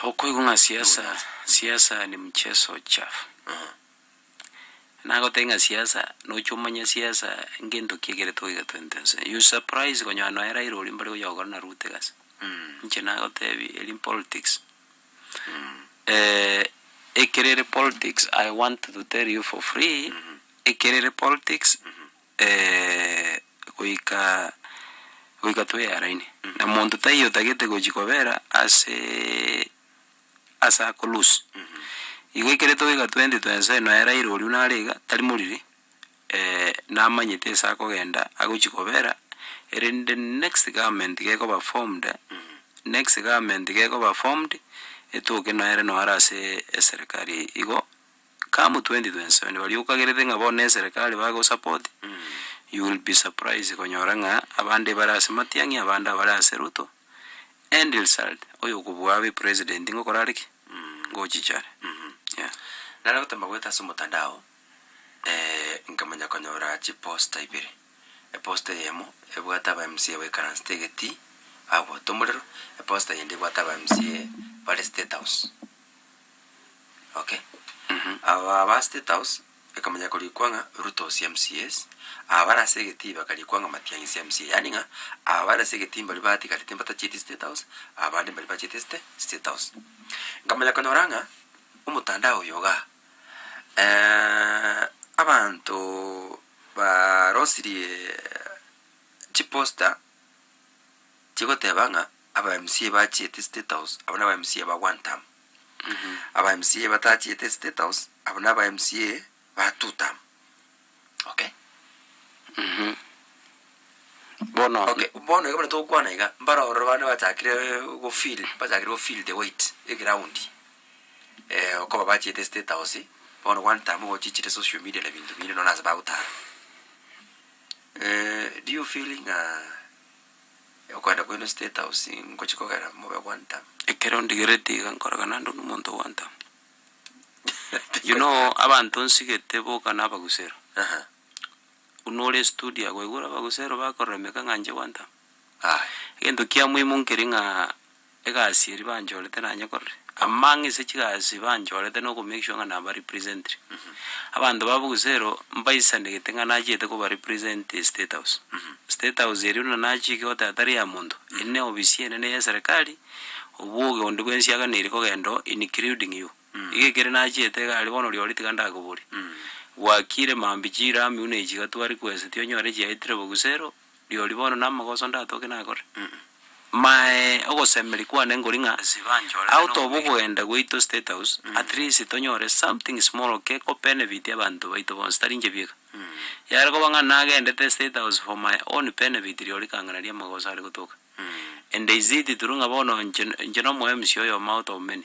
Okoigwa ng'a siasa siasa ni mchezo chafu. Nagotebie ng'a siasa noche omanye siasa ngento ki ekere toiga twente nse. You surprise konyora nonya Raila oria mbare gocha gokora na Ruto egasi. Inche nagotebie eri mpolitics. ekero ere politics I want to tell you for free ekero ere politics. goika goika twearaine, na monto taiyo otagete gochia kobera asee ase ako loose. Igo ekere togoika twensi twense ere noera ere oria nare iga tari moriri, namanyete ase akogenda agochia kobera, erende next government gekoba formed, next government gekoba formed, etoke noere noara asee eserekari igo. Come 2027 baria okagerete ng'a bono neserekari bago support you will be surprised konyora ng'a abande bare ase matiang'i abande abare ase ruto end result oyo okobua abe president ng'a okorare ki? Ngochichare yeah. Nare gote mbagoeta ase omotandao nkamanya konyora chiposta ibere eposta eyemo ebwate aba mca baikaransete egetii bagwota omorero eposta eyende ebwate aba mca bare state house. Okay aba aba state house ekamanya korikwa ng'a ruto ose mcas aba bare ase egetii bakarikwa ng'a matiang'i ase mca yaani ng'a aba bare ase egetii mbaria batigarete mbatacheti state house abande mbaria bachete state state house nkamanya konyora ng'a omotandao oyo igaa abanto barosirie chiposter. Chigoteba ng'a aba mca bachiete state house abwo naba mca ba one term aba mca batachiete state house abwo naba mca ba two term okay bono okay bono iga buna togokwana iga mbare ororo bande bachakire go feel bachakire go feel the weight eground eh okoba bachiete state house bono one term igo ochichire social media na binto binde nonye ase bagotara do you feel ng'a. Okwenda kwaino State House ngochia kogera mobe gwanta. Ekero ondigereti iga nkorora naende onde omonto ogwanta. You know abanto nsigete boka na abagusero. Aha. Buna ore studio aa gwaigure abagusero bakorora emeka ng'a inche gwanta. Aye. Egento kia muhimu nkeri ng'aa. egasi eria banchorete nanye korire, amang'a ase chigasi banchorete na okomake sure ng'a naba representire abanto babo gose ero mbaisanegete ng'a nachiete koba represent estate house. State house eria buna nachiki goteba tari eya monto, eri na eofisi enene ya eserekari, oboge onde bwa ensiaga neri kogenda oo including you. Iga ekere nachiete iga aria bono riori tiga ndakoboria, gwakire maambia chirami buna echi iga twari kweseti onyore echiaetire bo gusero. rirorio bono namagoso ndatoke nakore, mae ogosemeria kwane nkori ng'a out of okogenda gwaito state house at least tonyore something small geko benefit abanto baito bonsi tari inche bieka. Yare koba ng'a nagendete state house for my own benefit rirorio kang'ana riamagoso are gotoka, and is it true ng'a bono inche inche nomo MC oyomo out of many.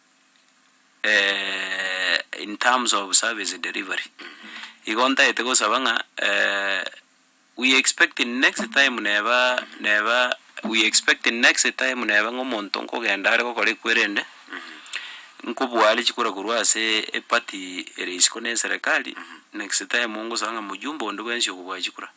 in terms of service delivery, igo ntagete gosaba ng'a we expect in next time neba neba we expect in next time neba ng'a omonto nkogenda are gokora ekwerende, nkobua are chikura korwa ase eparty ere isiko na eserekari, next time ngosaba ng'a mjumbe onde bwensi okobua chikura.